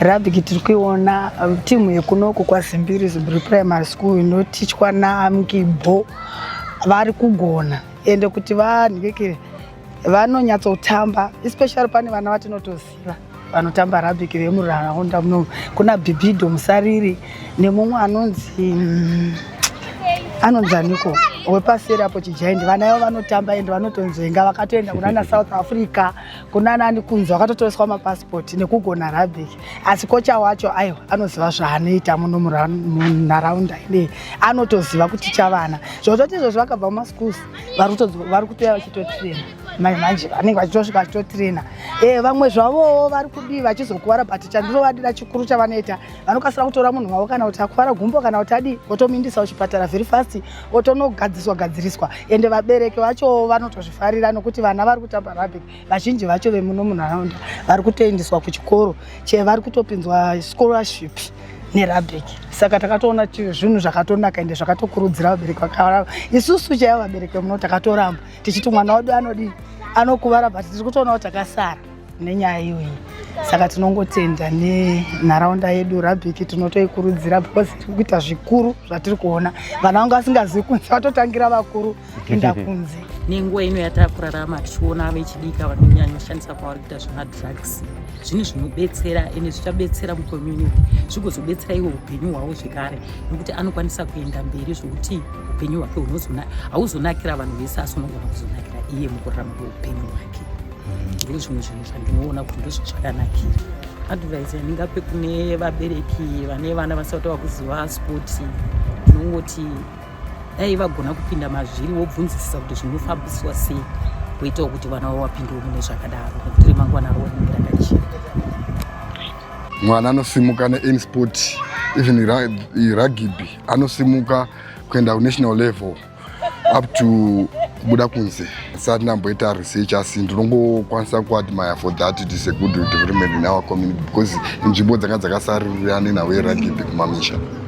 Rabiki tiri kuiona um, timu yekunoku kwaZimbiri Zimbiri Primary School inotichwa naMkibho vari kugona ende kuti vanhikekere vanonyatsotamba especially pane vana vatinotoziva vanotamba rabiki vemuraraunda muno kuna bhibido musariri nemumwe anonzi mm, anonzi aniko wepaseri apo chijaindi vana yavo vanotamba ende vanotonzvenga vakatoenda kunana south africa kunanani kunzi vakatotoreswa mapasipoti nekugona rabik asi kocha wacho aiwa anoziva zvaanoita muno munharaunda inei anotoziva kuticha vana zvozvoti izvozvo vakabva mumaschools vari kutouya vachitotirena mai manje vanenge vachitosvika vachitotrena e eh, vamwe zvavowo vari kudii vachizokuvara but chandinovadira chikuru chavanoita vanokasira kutora munhu wavo kana kuti akuvara gumbo kana kuti adii votomindisa kuchipatara very fast votonogadziswa gadziriswa ende vabereki vacho vanotozvifarira nokuti vana vari kutamba rugby vazhinji vacho vemuno munharaunda vari kutoendeswa kuchikoro che vari kutopinzwa scholarship nerabrik saka takatoona zvinhu zvakatonaka ende zvakatokurudzira vabereki vakavara isusu chaivo vabereki muno takatoramba tichiti mwana wedu anodii anokuvara but tiri kutoona kuti takasara nenyaya iyoyi saka tinongotenda nenharaunda yedu rabhiki tinotoikurudzira because tiri kuita zvikuru zvatiri kuona vana vanga vasingazivi kunze vatotangira vakuru inda kunze nenguva ino yatava kurarama tichiona vechidika vanonyanya kushandisa kwavari kuita zvemadrugs zvinhu zvinobetsera ende zvichabetsera mucommunity zvigozobetsera iwo upenyu hwavo zvekare nekuti anokwanisa kuenda mberi zvokuti upenyu hwake hauzonakira vanhu vese asi unogona kuzonakira iye mukurarama kweupenyu hwake mm. ndoo zvimwe zvinhu zvandinoona kuti ndozvo zvakanakira advise yandingape kune vabereki vane vana vasati vakuziva spoti ndinongoti dai vagona kupinda mazviri wobvunzisisa kuti zvinofambiswa sei kuitawo kuti vana vavo vapindewo mune zvakadaro nekuti remangwana ravo rinenge rakachena mwana anosimuka neany sport even rugby anosimuka kuenda kunational level up to kubuda kunze sati ndamboita research asi ndinongokwanisa kuadmire for that it is a good development in our community because inzvimbo dzanga dzakasaririra nenhau yerugby kumamisha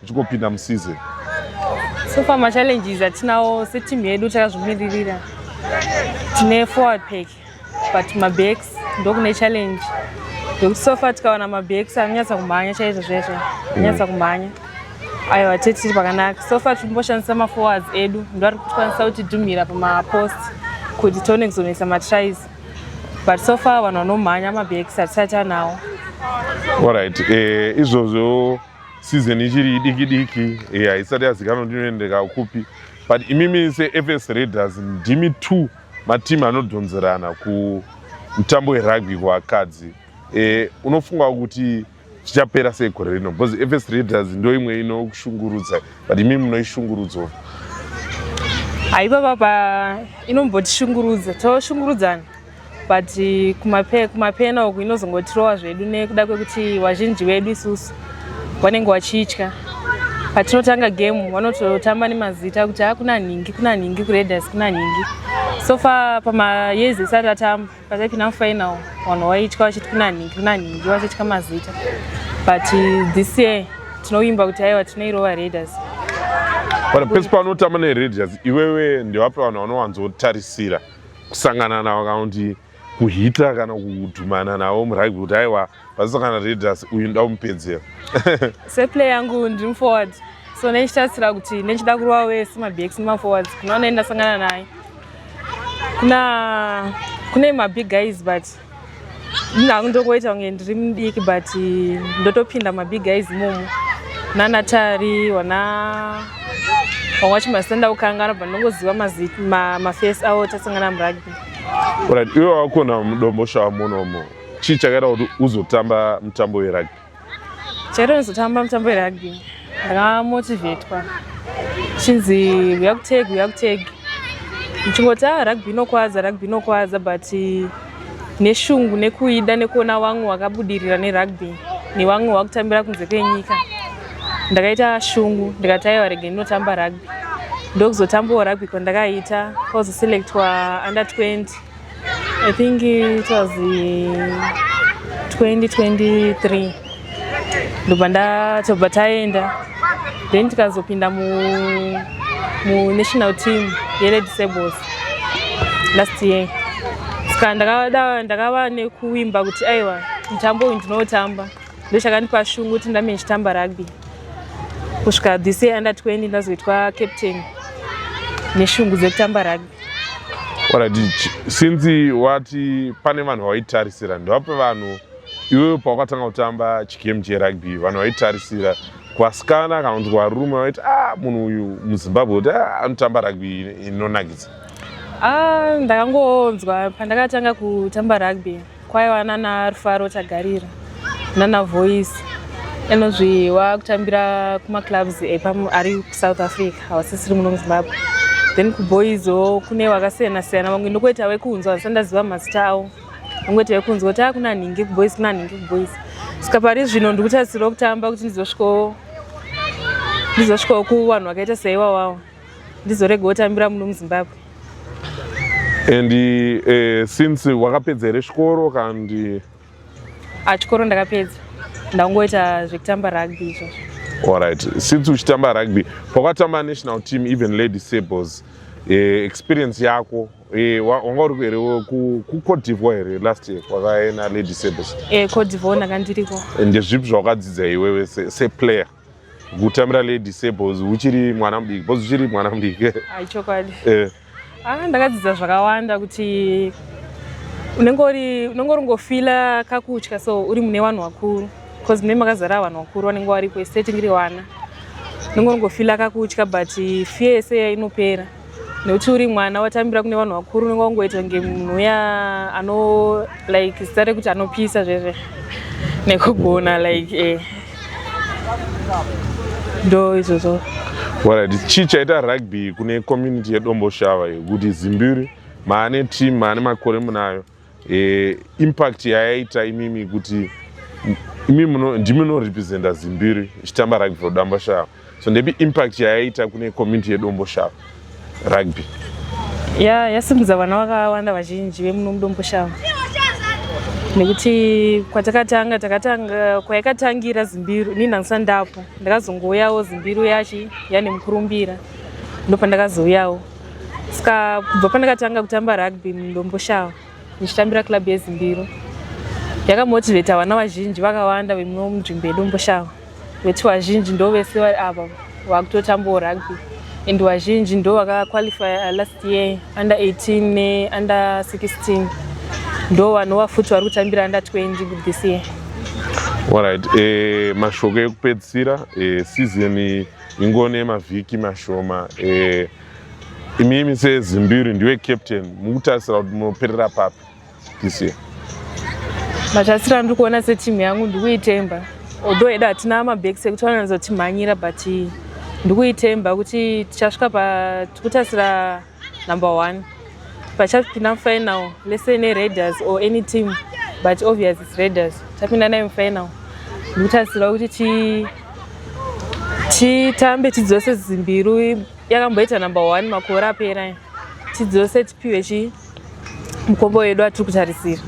tichingopinda museason so far machallenges atinawo seteam yedu takazvimiririra tine forward pack but mabacks ndokune challenge ndokuti so far tikawana mabacks anonyatsa kumhanya chaizvo zvaizvo anonyatsa mm. kumhanya ayo atete tiri pakanaka so far tiri kumboshandisa maforwards edu ndo ari kutikwanisa kuti dumhira pamapost kuti tione kuzonetsa matries but so far vanhu vanomhanya mabacks hatisati anawo orit eh, izvozvo season ichiri idiki diki eh, haisati yeah, yazikanwa kuti inoendeka kupi but imimi sefs raiders ndimi two matimu anodhonzerana kumutambo werugby kuvakadzi eh, unofunga kuti zvichapera sei gore rino because fs raiders ndo imwe inokushungurudza but imimi munoishungurudzo haiva papa inombotishungurudza toshungurudzana but kumapena uku inozongotirowa zvedu nekuda kwekuti vazhinji vedu isusu vanenge vachitya patinotanga game vanototamba nemazita kuti hakuna ah, nhingi kuna nhingi kureders kuna nhingi so far pamayezi esati atamba pataipinda mufinal vanhu vaitya vachiti kuna nhingi kuna nhingi vachitya mazita but this year tinovimba kuti aiwa tinoirova reders pane pese paunotamba nereders iwewe ndevapi vanhu vanowanzotarisira kusangana navo kana kuti kuhita kana kudhumana navo murugby kuti aiwa pasisangana redas uyu nda kumupedzera seplay yangu ndiri muforward so nechitarisira kuti nechida kurova wese mabx nemaforwards kunaona ndasangana naye kuna kune mabig guys but hangu ndokoita kunge ndiri mudiki but ndotopinda mabig guys momo nanatari wana vamwe vacho masenda kukangana but ndongoziva mafesi avo tasangana murugby right iwe wakona mudombo shaa munomo chii chakaita kuti uzotamba mutambo werugby chero ndizotamba mutambo werugby ndakamotivetwa chinzi uya kutegi uya kutegi ndichingoti a ah, rugby inokwadza rugby inokwadza but neshungu nekuida nekuona wamwe wakabudirira nerugby newamwe wakutambira kunze kwenyika ndakaita shungu ndikati aiwa rege ndinotamba rugby ndokuzotambawo rugby kwandakaita kwakuzoselectwa under 20 I think it was 2023 ndobva ndatobva taenda then tikazopinda mu, mu national team yeled sables last year ska ndakava ndaka nekuwimba kuti aiwa mutambo uyu ndinotamba ndochakandipa shungu kuti ndame ndichitamba rugby kusvika this year under 20 ndazoitwa captain neshungu dzekutamba rugby since wati pane vanhu vawaitarisira ndovape vanhu iwewe pawakatanga kutamba chigame cherugby vanhu vaitarisira kwasikana kana kuti kwarume vaiti a ah, munhu uyu muzimbabwe kuti ah, anotamba rugby inonakidza ah, ndakangonzwa pandakatanga kutamba rugby kwaiva nana rufaro tagarira nana voice anozvi wakutambira kumaclubs ari kusouth africa havasisiri muno muzimbabwe then kuboyzo kune wakasiyana siyana vamwe ndokuita wekunzwa asi ndaziva mazita avo vangoita wekunzwa kuti akuna ah, nhingi kuboys kuna nhingi kuboys saka pari zvino ndiri kutarisirwa kutamba kuti ndizosvikawo ndizosvikawo kuvanhu vakaita seiwawawo ndizorega otambira muno muzimbabwe and uh, since wakapedza here chikoro kandi ah, a chikoro ndakapedza ndangoita zvekutamba rugby izvozvo allright since uchitamba rugby pakatamba national team even lady sables uh, eh, experience yako Eh, wanga uri here kucote divoir here last year kwakaena lady sabes eh, cote divoir ndaka ndiriko ndezvipi zvawakadzidza iwewe seplayer kutambira lady sebos uchiri mwana mudiki bos uchiri mwana mudiki ah, ichokwadi eh. ah, ndakadzidza zvakawanda kuti unenge uri unenge uri ngofila kakutya so uri mune vanhu vakuru bcause mune makazara vanhu vakuru vanenge varipo ese tingiri vana unenge uri ngofila kakutya but fear yese inopera nekuti uri mwana watambira kune vanhu vakuru unenge wangoita kunge munhu uya ano like zita rekuti anopisa zvese nekugona like eh. ndo izvozvo warit chii chaita rugby kune community yedomboshava yekuti zimbiri maane team maane makore munayo e, impact yayaita imimi kuti imi muno ndimi munorepresenta zimbiri ichitamba rugby for damba shava so ndepi impact yayaita kune community yedombo shava rugby ya yasimudza vana vakawanda vazhinji vemuno mudombo shava nekuti kwatakatanga takatanga kwayakatangira zimbiru ini ndangisa ndapo ndakazongouyawo zimbiru yachi yane mukurumbira ndopandakazouyawo ska kubva pandakatanga kutamba rugby mundomboshava ndichitambira club yezimbiro yakamotivheta vana vazhinji vakawanda vemumwe munzvimbo yedomboshava veti vazhinji ndo vese vari ava vakutotambawo rugby and vazhinji ndo vakaqualifya last year under 18 neunder 16 ndo vanova futi vari kutambira under 20 this year Alright, eh, mashoko ekupedzisira eh, season ingone mavhiki mashoma eh, imimi sezimbiri ndiwe captain mukutarisira kuti munoperera papi this year matarisiro andiri kuona setimu yangu ndikuitemba although edu hatina mabacks ekuti vanowanza kutimhanyira but ndikuitemba kuti tichasvika patikutasira number one pachapinda mufinal lese neraiders or any team but obvious its raiders tapinda nayo mufinal ndikutarisirwa kuti titambe tidzose zimbiru yakamboita number one makore apera tidzose tipiwe chi mukombo wedu atiri kutarisira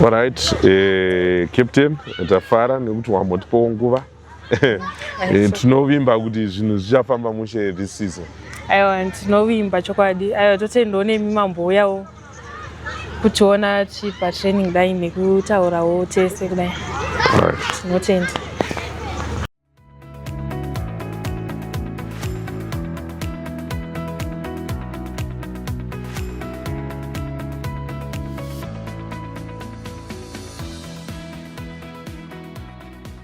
Alright, eh, captain tafara nekuti wambotipawo nguva eh, tinovimba kuti zvinhu zvichafamba mushe this season aiwa tinovimba chokwadi aiwa totendawo nemi mambouyawo kutiona tichipa training kudai nekutaurawo tese kudai tinotenda right.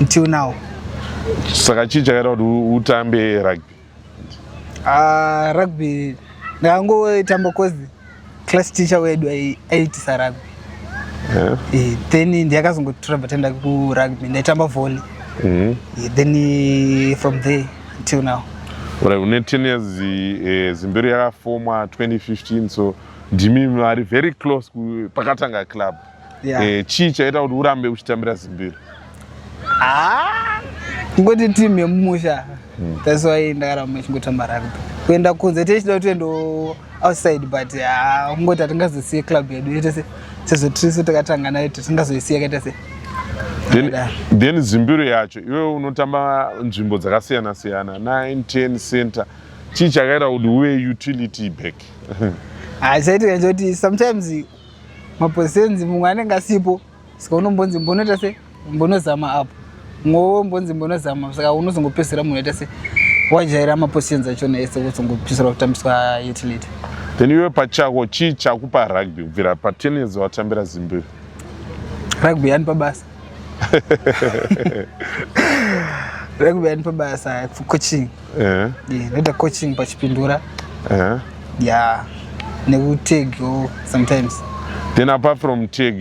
until now saka chii chakaita kuti utambe rugby uh, rugby ndakangoitamba cause class teacher wedu aiitisa rugby yeah. e, then ndiyakazongotura batenda kurugby ndaitamba volley mm -hmm. e, then eh, from there until now right une 10 years eh, zimberi yakafomwa 2015 so ndimi vari very close pakatanga club yeah. eh, chii chaita kuti urambe uchitambira zimbiro ah, ngoti team yemumusha hmm. that's why ndakaramba ichingotamba rugby kuenda kunze tichida kuti endo outside but ah, ungoti hatingazosiye club yedu yetese sezvo tirisu takatanga nayo tisingazoisiya kaita se then zimbiro yacho iwe unotamba nzvimbo dzakasiyana siyana 9 10 center chii chakaita kuti uve utility back haichaitika ah, choti sometimes maposenzi mumwe anenge asipo saka unombonzi mbonoita se mbonozama apo mwowo mbonzi mbonozama saka unozongopedzisira munhu aita se wajaira maposenzi achona ese wozongopedzisira kutambiswa utility then iwe pachako chii chakupa rugby kubvira patennis watambira zimbiri rugby yanipa basa rugby yanipa basa for coaching eh. ndoita coaching pachipindura eh. ya nekutag sometimes then apart from tag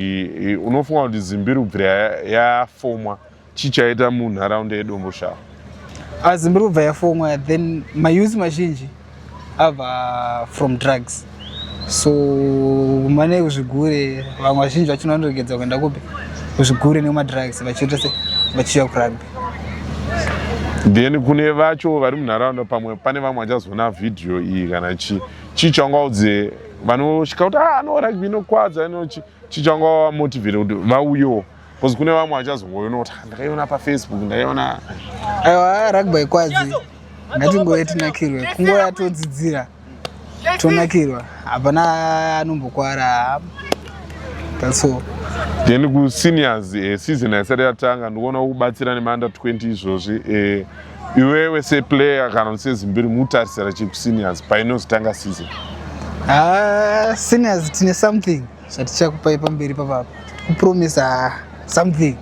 unofunga kuti zimbirubvira yafomwa chichaita munharaunda yedomboshava ah, zimbirubva yafomwa then mayuzi mazhinji ava from drugs so mane kuzvigure vamwe vazhinji vacho vanoregedza kuenda kupi kuzvigure nemadrugs vachiita se vachiuya kurugby then kune vacho vari munharaunda pamwe pane vamwe vachazoona vhidhiyo iyi kana chii chii changaudze vanosvika kuti ah, no rugby inokwadza inochi chii changawamotivhire kuti vauyewo Because kune vamwe vachazongoiona kuti ndakaiona pafacebook ndakaiona aiwa rugby kwadzi ngatingouye tinakirwe kungouya todzidzira tonakirwa hapana anombokwara that's all then kuseniors eh, season haisati yatanga ndikuona kubatsira nemanda 20 izvozvi eh, iwewe seplayer kana kuti sezimbiri mutarisira chii kuseniors painozotanga season ah, seniors tine something zvatichakupai pamberi papapa kupromisa something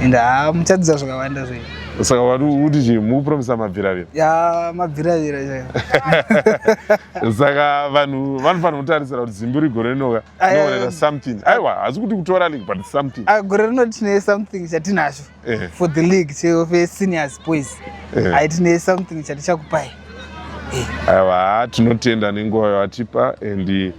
and haa ah, muchadzidza zvakawanda zvenyu saka wati uti chii mukupromisa mabviravira ya mabviravira chaiyo saka vanhu vanofanira kutarisira kuti zimbi rigore rinoka noonera something aiwa hasi kuti kutora league but something ah, gore rino tine something chatinacho eh. for the league cheofe seniors boys eh. ai tine something chatichakupai eh. aiwa tinotenda nenguva yawatipa and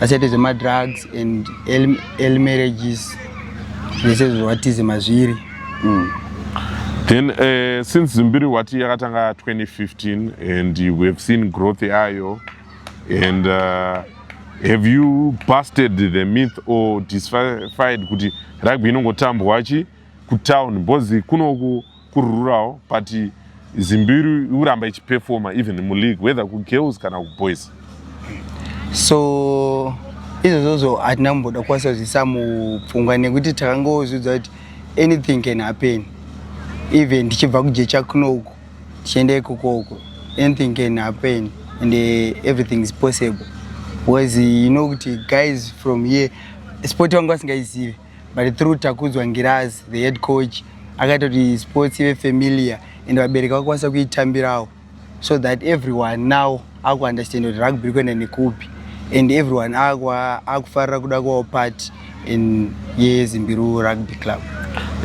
vasati zvemadrugs and early marriages zvese zvatize mazviri mm. then uh, since zimbiri wati yakatanga 2015 and we have seen growth yayo and uh, have you busted the myth or disfied kuti rugby inongotambwa chi kutown because kunoku kurururawo but zimbiri ikuramba ichiperfoma even muleague whether kugirls kana kuboys so izvozvozvo hatina kumboda kukwanisa zvisa mupfungwa nekuti takangozviudza kuti anything can happen even tichibva kujecha kunoku tichienda ikoko uko anything can happen and uh, everything is possible because you know kuti guys from here sport vangu vasingaizive but through takudzwa ngirazi the head coach akaita kuti sports ive familiar and vabereki vakwanisa kuitambirawo so that everyone now akuunderstand kuti rugby ri kuenda nekupi and everyone akufarira kuda kuvawo part in yezimbiru rugby club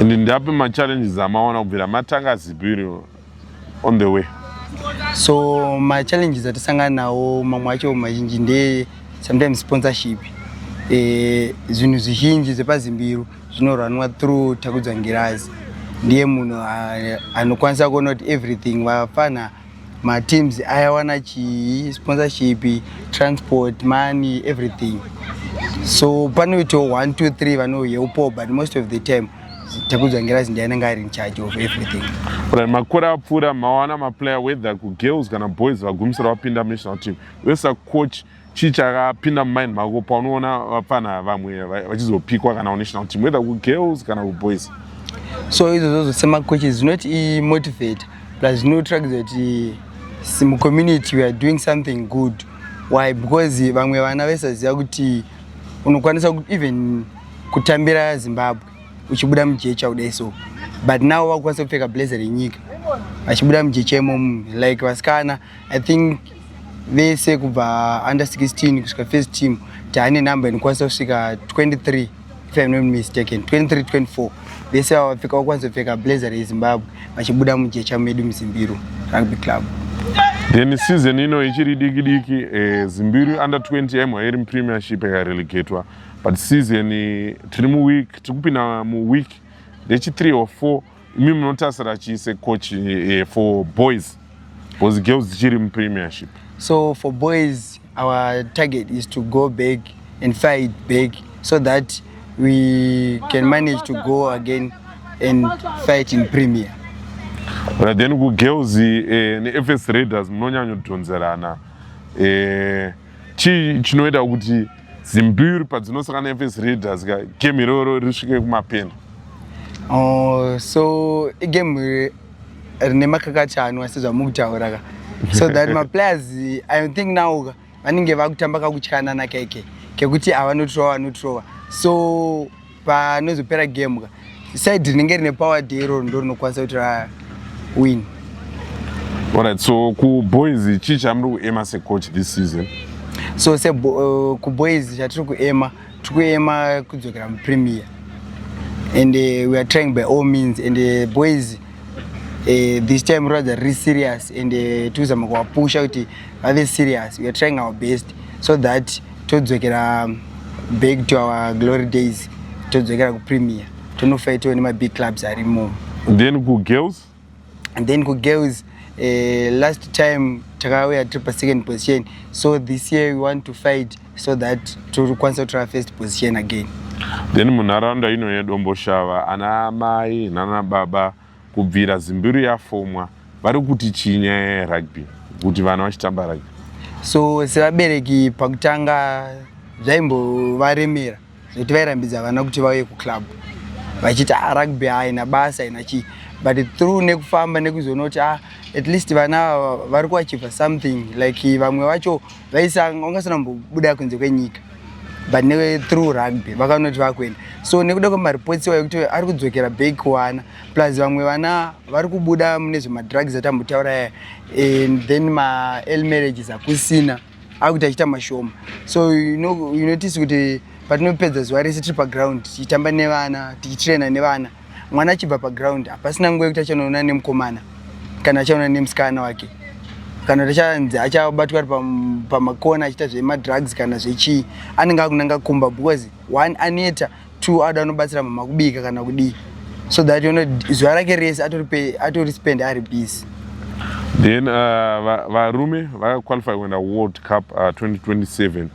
and ndapi machallenges amaona kubvira matanga zibiru on the way so my challenges atisangana nawo mamwe acho mazhinji ndeye sometimes sponsorship eh, zvinhu zvizhinji zvepazimbiru zvinorwanwa through takudza ngirazi ndiye munhu ah, anokwanisa kuona kuti everything vafana mateams ayawana chii sponsorship transport money everything so panoitawo one two three vanoyeupo but most of the time takudzwa ngirazi ndiye anenge ari in charge of everything right makore apfuura mawana maplayer whether kugirls kana boys vagumisira vapinda national team wesa coach chii chakapinda mumind mako paunoona vapfana vamwe vachizopikwa kana kunational team whether kugirls kana kuboys so izvozvozvo semacoaches zvinoti imotivate plus zvinotirakidza kuti mucommunity weare doing something good why because vamwe vana vaisaziva kuti unokwanisa even kutambira zimbabwe uchibuda mujecha kudai so but now vakukwanisa kupfeka blazer renyika vachibuda mujecha imomu like vasikana i think vese kubva under 16 kusvika first team taane number inokwanisa kusvika 23 if im not mistaken 23 24 vese vava vapfeka vakwanisa kupfeka blazer rezimbabwe vachibuda mujecha medu muzimbiro rugby club then season ino ichiri diki diki eh, zimbiru under 20 yamwa iri mupremiership yakarelegatwa but season tiri muweek tiri kupinda muweek nechi3 or 4 imi munotasira chiise coach eh, for boys because girls dzichiri mupremiership so for boys our target is to go back and fight back so that we can manage to go again and fight in premier right then kugirls eh, nefs raiders munonyanyodhonzerana eh, chii chinoita kuti zimbiri padzinosaka nefes raiders ka game iroro risvike kumapena oh, so igame rine makakacha anwa sezvamuri kutaura ka so that maplayers i think now ka vanenge vakutamba kakutyanana keke kekuti avanotrova vanotrova so panozopera game ka side rinenge rine power day iroro ndo rinokwanisa kuti ra win alright so kuboys chii chamuri kuema secoach this season so se uh, kuboys chatiri kuema tiri kuema kudzokera mupremier and uh, we are trying by all means and uh, boys uh, this time rather riri serious and uh, tikuzama kuwapusha kuti vave serious we are trying our best so that todzokera back to our glory days todzokera kupremier tonofaitawo nemabig clubs arimo then kugirls and then kugirls uh, last time takauya tiri pasecond position so this year we want to fight so that tokwanisa kutora first position again then munharaunda ino yedomboshava ana mai nana baba Kubvira Zimbiru yafomwa vari kuti chii nyaya yerugby kuti vana vachitamba rugby? So sevabereki pakutanga zvaimbovaremera zvekuti vairambidza vana kuti vauye kuclub vachiti ah, rugby haina basa haina chii but through nekufamba nekuzoona kuti ah, at least vana vari kuachiva something like vamwe vacho vaisa ungasana mbuda kunze kwenyika but ne through rugby vakanoti vakuenda so nekuda kwemareports iwayo kuti ari kudzokera back kuwana plus vamwe vana vari kubuda mune zvemadrugs atambotauraya and then mael marriages akusina akuti achiita mashoma so unotice kuti patinopedza zuva rese tiri paground tichitamba nevana tichitraina nevana mwana achibva paground hapasina nguva yekuti achanoona nemukomana kana achaona nemusikana wake kana kuti achanzi achabatwa ari pamakona achiita zvemadrugs kana zvechii anenge akunanga kumba because one aneta two ada anobatsira mama kubika kana kudii so that you know zuva rake rese atori spend ari busy then uh, varume uh, vakaqualify kuenda world cup uh, 2027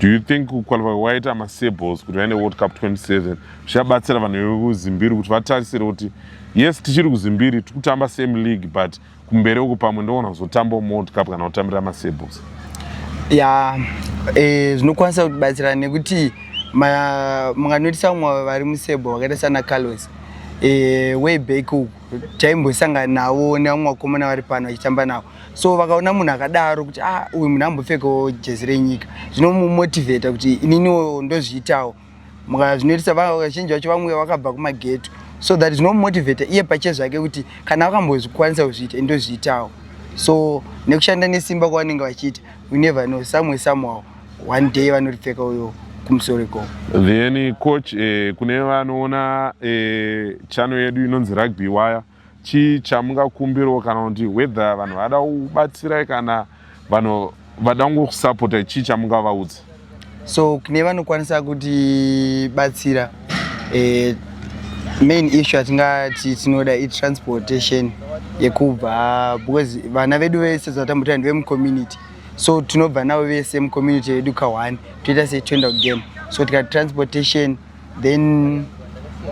do you think kuqualify waita masables kuti vaende world cup 27 zvichabatsira vanhu vekuzimbiri kuti vatarisire kuti yes tichiri kuzimbiri tikutamba same league but kumberi uku pamwe ndoona kuzotambawo mold cup kana kutambira masabels ya e, zvinokwanisa kutibatsira nekuti munganoitisa vamwe vari musable vakaita sana carlos e, way back uku taimbosangana navo nevamwe vakomana vari pano vachitamba navo so vakaona munhu akadaro kuti ah uyu munhu ambopfekawo jezi renyika zvinomumotivheta kuti ininiwo ndozviitawo zvinoitisa vazhinji vacho vamwe vakabva kumageto so that zvinomotivata iye pache zvake kuti kana vakambozvikwanisa kuzviita indozviitawo so nekushanda nesimba kwavanenge vachiita we never know somewhere somehow one day vanoripfeka uyo kumusoro ikoko then coach eh, kune vanoona eh, chano yedu inonzi rugby waya chii chamungakumbirawo kana kuti whether vanhu vada kubatsirai kana vanhu vada kungokusapota chii chamungavaudza so kune vanokwanisa kutibatsira eh, main issue yatingati tinoda itransportation yekubva because vana vedu vese zvatambutira ndevemucommunity so tinobva navo vese mucommunity yedu kahwani toita setoenda kugame so tikati transportation then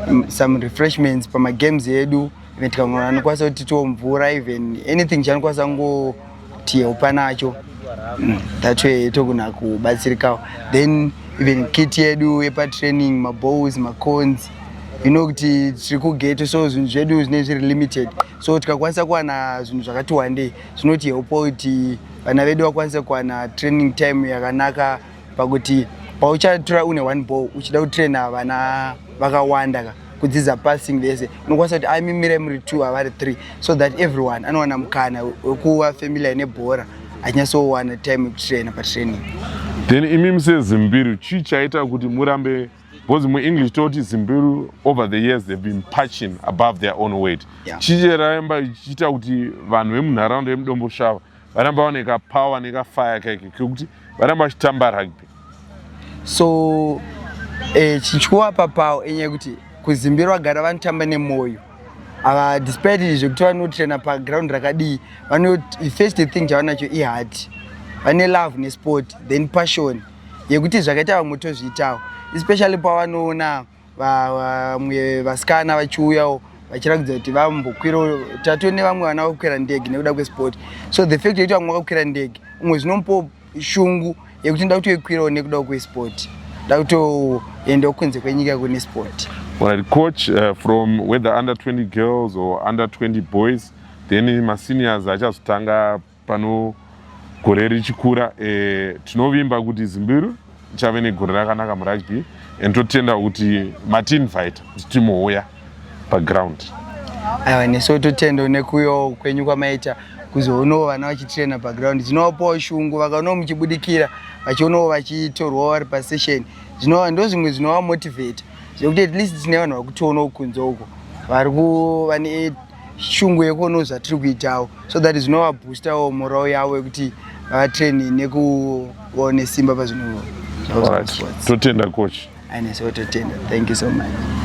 um, some refreshments pamagames edu even tikamwe anokwanisa kuti tiwo mvura even anything chanokwanisa ngotihelpa nacho mm, that way togona kubatsirikawo then even kit yedu yepatraining mabows macons you know kuti tiri kugeto so zvinhu zvedu zvinee zviri limited so tikakwanisa kuwana zvinhu zvakati wandei zvinotihelpawo kuti vana vedu vakwanise kuwana training time yakanaka pakuti pauchatura une one ball uchida kutraina vana vakawanda ka kudzidza passing vese unokwanisa kuti aimimire muri two avari three so that everyone anowana mukana wekuva familiar nebhora achinyatsowana time yekutraina patraining then imi musezimbiru chii chaita kuti murambe because muenglish toti zimbiru over the years they've been patching above their own weight yeah. chii charaimba chichiita kuti vanhu vemunharaunda yemudomboshava varamba vane kapower nekafaya kaike kekuti varamba vachitamba rugby so eh, chichikuva papawo enyaya yekuti kuzimbiro vagara vanotamba nemwoyo ava despite izvo kuti vanotrena paground rakadii vanoti first thing chavanacho iheart vane love nesport then passion yekuti zvakaita vamwe tozviitawo especially pavanoona vamwe vasikana vachiuyawo vachiratidza kuti vambokwira tatove nevamwe vana vakukwira ndege nekuda kwesport so the fact yekuti vamwe vakakwira ndege umwe zvinomupo shungu yekuti nda kutoikwirawo nekuda kwesport nda kutoendawo kunze kwenyika kune sport Right, coach uh, from whether under 20 girls or under 20 boys then maseniors achazotanga Pano gore richikura eh, tinovimba kuti Zimbiru ichave negore rakanaka murugby and totenda kuti matiinvita kuti timouya paground. Aiwa nesu totenda nekuuyawo kwenyu kwamaita kuzoonawo vana vachitraina paground zvinovapawo shungu vakaonawo muchibudikira vachionawo vachitorwawo vari pasession zvinova ndo zvimwe zvinovamotivheta zvekuti at least tine vanhu vakutionawo kunze uko vari kuva shungu yekuonawo zvatiri kuitawo so that zvinovaboostawo morao yavo yekuti vatraine nekuvawo nesimba pazvinhu totenda coach aneso totenda thank you so much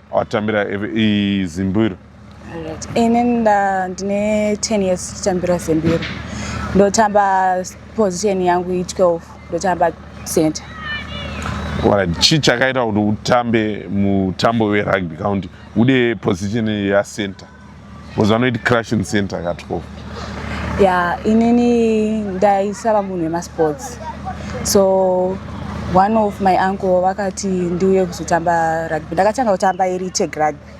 watambira zimbiro ini ndine 10 years tichitambira zimbiro ndotamba position yangu i12 ndotamba center chii chakaita kuti utambe mutambo werugby county ude position yacenter Because vanoiti crash in center katwo. Yeah, inini ndaisava munhu wemasports. So one of my uncle vakati ndiuye kuzotamba rugby. Ndakatanga kutamba iri tag rugby.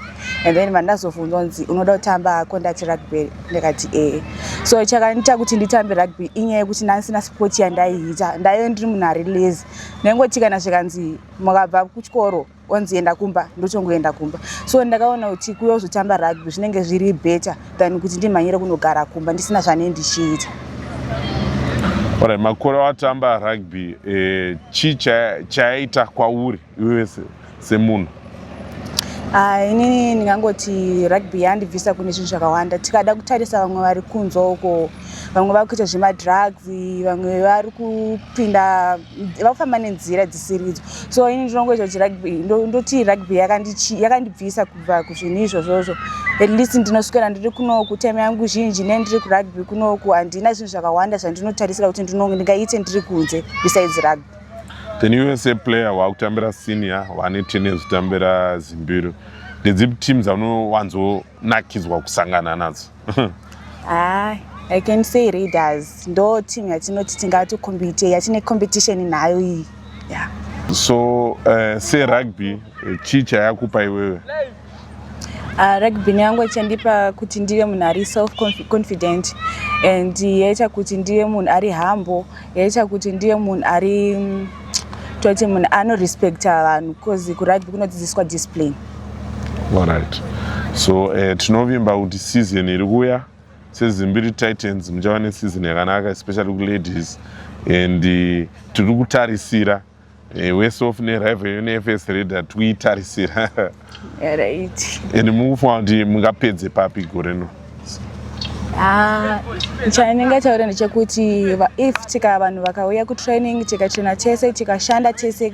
And then vandazovunzwa kunzi unoda kutamba conduct rugby ndikati eh. So chakaniita kuti nditambe rugby inyaya yekuti ndandisina sport yandaiita. Ndaive ndiri munhu ari lazy. Ndaingotikana zvikanzi mukabva kuchikoro onzi enda kumba ndochongoenda kumba so ndakaona kuti kuuya kuzotamba rugby zvinenge zviri better than kuti ndimhanyire kunogara kumba ndisina zvane ndichiita ora makore watamba rugby eh, chii chayaita kwauri iwe semunhu ah, inini ndingangoti rugby yandibvisa kune zvinhu zvakawanda tikada kutarisa vamwe vari kunze uko vamwe vari kuita zvemadrugs vamwe vari kupinda vakufamba nenzira dzisiridzo so ini ndinongoita kuti rugby ndoti rugby yakandibvisa kubva kuzvinhu izvozvozvo at least ndinoswera ndiri kunoku time yangu zhinji ne ndiri kurugby kunoku handina zvinhu zvakawanda zvandinotarisira kuti ndingaite ndiri kunze besides rugby then iwe seplayer waakutambira senior wane tenez kutambira zimbiro ndedzipi team dzaunowanzo nakidzwa kusangana nadzo ah, i can say readers ndo team yatinoti tingati compete yatine competition nayo iyi yeah. so uh, eh, serugby eh, chii chayakupa iwewe Uh, rugby yangu ichandipa kuti ndive munhu ari self confident and yaita kuti ndive munhu ari humble yaita kuti ndive munhu ari mm, toti munhu anorespecta vanhu bcause kurugby kunodzidziswa discipline Alright. So uh, tinovimba kuti season iri kuya seZimbiri Titans muchava neseason yakanaka especially kuladies and uh, tiri kutarisira uh, eh, wese of nerival yo nefs reda tikuitarisira right. and mukufunga kuti mungapedze papi gore no ah, chainenge taura ndechekuti if tika vanhu vakauya kutraining tikachena tese tikashanda tese